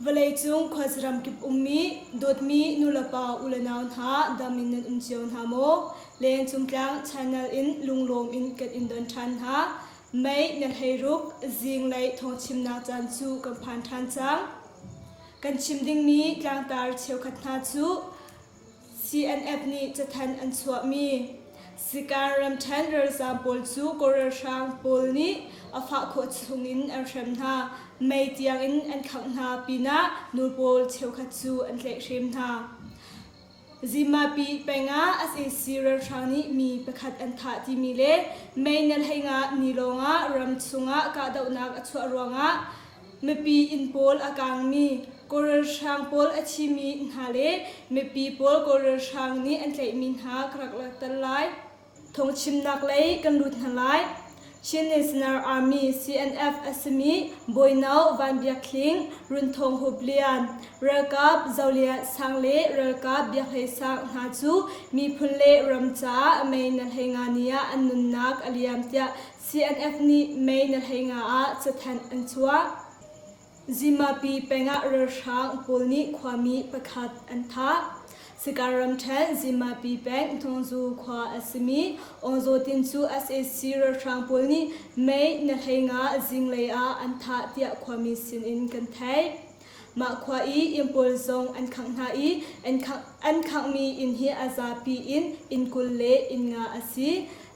Vawleicung khuasaram kip ummi dawtmi nulepa u le nau hna dam in nan um cio hna maw? Lengcung tlang channel in lunglawm in kan in don ṭhan hna. Mei na hleiruk zinglei thawngchimnak caan cu kan phan ṭhan cang. Kan chim dingmi tlangtar cheukhat hna cu CNF nih cathanh an chuahmi Sikan ramṭhen ralzaam pawl cu Kawl ralhrang pawl nih a fah khawh chungin an hrem hna. Mei tiangin an khangh hna pinah nu pawl cheukhat cu an tlaihhrem hna. Zimapi pengah SAC ralhrang nih mi pakhat an thah timi le meinelhei ngah ni lawngah ram chungah kahdohnak a chuah ruangah Mipi inn pawl a kangmi kawlralhrang pawl a thimi hna le mipi pawl kawlralhrang nih an tlaihmi hna ka rak langhter lai. Thawngchimnak lei kan lut hna lai. Chin National Army CNF a simi Bawino Van Biak Hling, Runthawng Hup Lian, Ralkap Zo Lian Sang le Ralkap Biak Hlei Sang hna cu miphun le ram caah mei na hlei nga ni ah an nunnak a liam tiah CNF nih May na hlei nga ah cathanh an chuah. Zimapi pengah ralhrang pawl nih khuami pakhat an thah. Sakar ramṭhen Zimapi peng Hnawngzu khua a simi Awngzaw Tin cu sac ralhrang pawl nih May na hlei nga zinglei ah an thah tiah khuami sinin kan theih. Mah khua i inn pawl zong an khangh hna i an khangh, an khanghmi inn hi a zapi in inn kul le inn nga a si.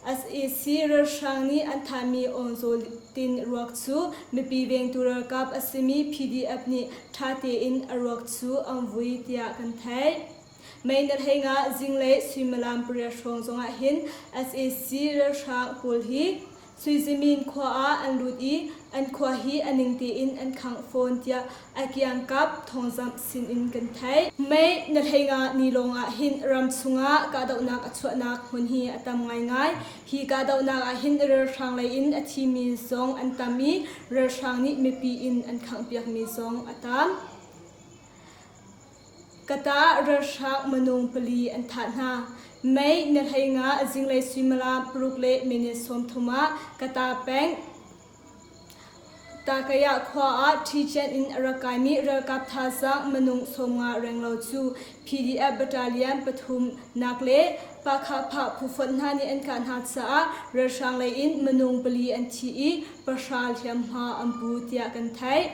SAC ralhrang nih an thanhmi Aungzawl tin ruak cu mipi vengtu ralkap a simi PDF nih ṭha tein a ruak cu an vui tiah kan theih. Mei na thei nga zinglei suimilam pariat hrawng zongah hin sac ralhrang pawl hi Suizimin khua ah an lut i an khua hi a ning tein an khangh fawn tiah a kiangkap thawngzamh sin in kan theih. Mei na thei nga ni lawngah hin ram chungah kahdohnak a chuahnak hmun hi a tam ngaingai. Hi kahdohnak ah hin ralhrang lei in a thimi zong an tam i ralhrang nih mipi in an khangh piakmi zong a tam. Ka tah ralhrang manung pali an thah hna. Mei na hlei nga a zinglei suimilam paruk le minute sawmthum ah ka ta peng. Takaya khua ah Ṭhiṭian in a ra kaimi ralkap thazaang manung sawmnga renglo cu PDF battalion pathum nak le Pakhaphah phu fonh hna nih an kah hna caah ralhrang lei in manung pali an thi i pahra hliamhma an pu tiah kan theih.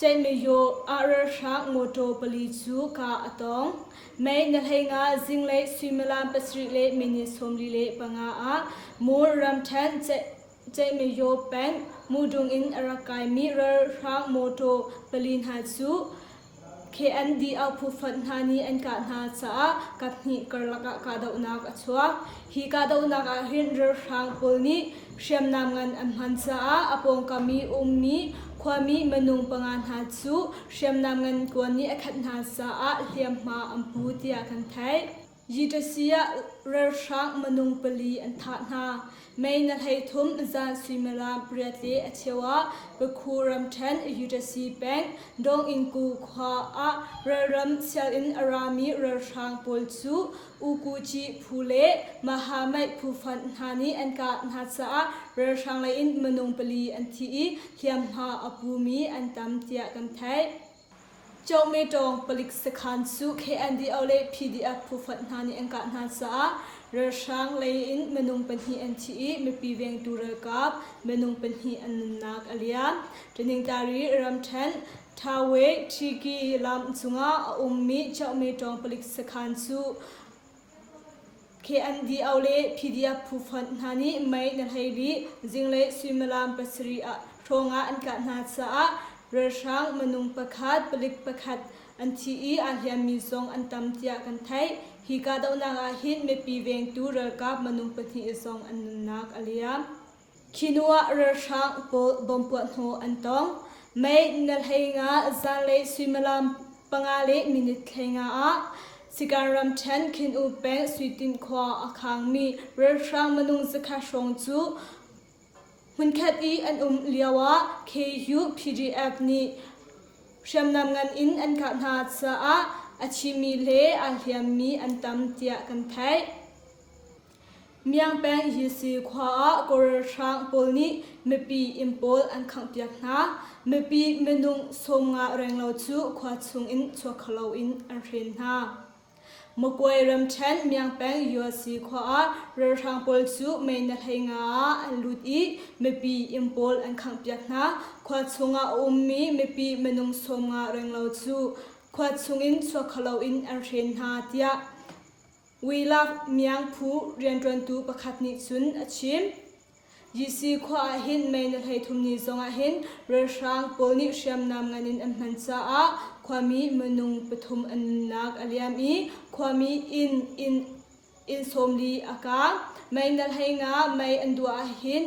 Cemihawh ah ralhrang mawṭaw pali cu kah a tong. Mei na hlei nga zinglei suimilam pasarih le minute sawmli le panga ah Mul ramṭhen Cemihawh peng Mudung in a rak kaimi ralhrang mawṭaw pali hna cu KND auhphu fund hna nih an kah hna caah kaphnih karlak ah kahdohnak a chuak. Hi kahdohnak ah hin ralhrang pawl nih hriamnam ngan an hman caah a pawngkam i ummi khuami minung panga hna cu hriamnam ngan kuan nih a khat hna caah hliamhma an pu tiah kan theih. Yitasi ah ralhrang minung pali an thah hna. Mei na hleithum zan suimilam pariat le a cheu ah Bakhu ramṭhen Yitasi peng Dongingku khua ah ralram sianginn a rami ralhrang pawl cu Ukuji phu le Mahamait phu fund hna nih an kah hna caah ralhrang lei in minung pali an thi i hliamhma a pumi an tam tiah kan theih. Cawngmetawng palik sakhan cu KNDO le PDF phufonh hna nih an kah hna caah ralhrang lei in minung pahnih an thi i mipi vengtu ralkap minung pahnih an nunnak a liam. Taniktari Ramṭhen Thawe Ṭhiki lam cungah a ummi Cawngmetawng palik sakhan cu KNDO le PDF phu fund hna nih mei na hlei rih zinglei suimilam pasarih ah ṭhawng ah an tlah hna caah ralhrang minung pakhat palik pakhat an thi i aa hliammi zong an tam tiah kan theih. Hi kahdohnak ah hin mipi vengtu ralkap minung pahnih zong an nunnak a liam. Khi hnu ah ralhrang pawl bawmpuahhnawh an tong. Mei na hlei nga zanlei suimilam panga le minute hlei nga ah Sikan ramṭhen Khin-u peng Suitin khua a khangmi ralhrang minung zakhat hrawng cu hmunkhat i an um lio ah KU PDF nih hriamnam ngan in an kah hna caah a thimi le aa hliammi an tam tiah kan theih. Miang peng Yilsi khua ah Koril hrang pawl nih mipi inn pawl an khanghpiak hna, mipi minung sawmnga renglo cu khua chungin chuakhalo in an hren hna. Makwe ramṭhen Miang peng Yilsi khua ah ralhrang pawl cu mei na hlei nga ah an lut i mipi inn pawl an khanghpiak hna, khua chungah a ummi mipi minung sawmnga renglo cu khua chungin chuakhalo in an hren hna, tiah Uilak miangphu rianṭuantu pakhat nih cun a chim. Jesse khua ah hin mei na hleithum ni zongah hin ralhrang pawl nih hriamnam ngan in an hman caah khuami minung pathum an nunnak a liam i khuami inn inn inn sawm li a kaang. Mei na hlei nga mei an duah ahhin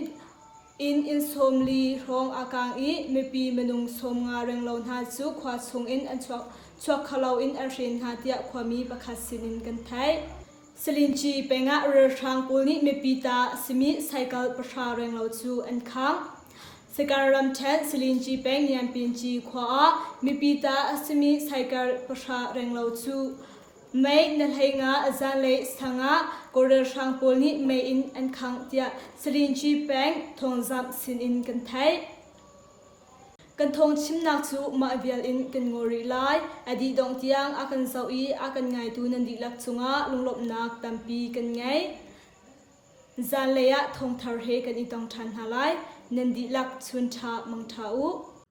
Inn inn sawm li hrawng aa kang i mipi minung sawm nga reng lo hna cu khua chungin an chuak chuakhalo in an hrin hna tiah khuami pakhat sinin kan theih. Salinci peng ah ralhrang pawl nih mipi ta a simi cycle pahra reng lo cu an khang. Sakar ramṭhen Salinci peng Nianpinci khua ah mipi ta a simi cycle pahra reng lo cu Mei na hlei nga zanlei sang ah Koreal hrang pawl nih mei in an khangh tiah Sarin Ci Peng thawngzamh sinin kan theih. Kan thawng chimnak cu mah vial in kan ngaw rih lai. A dih dongh tiang a kan zoh i a kan ngaitu nan dihlak cungah lunglawmhnak tampi kan ngei. Zanlei ah thawngthar he kan i tong ṭhan hna lai. Nan dihlak chun ṭha mang ṭha u.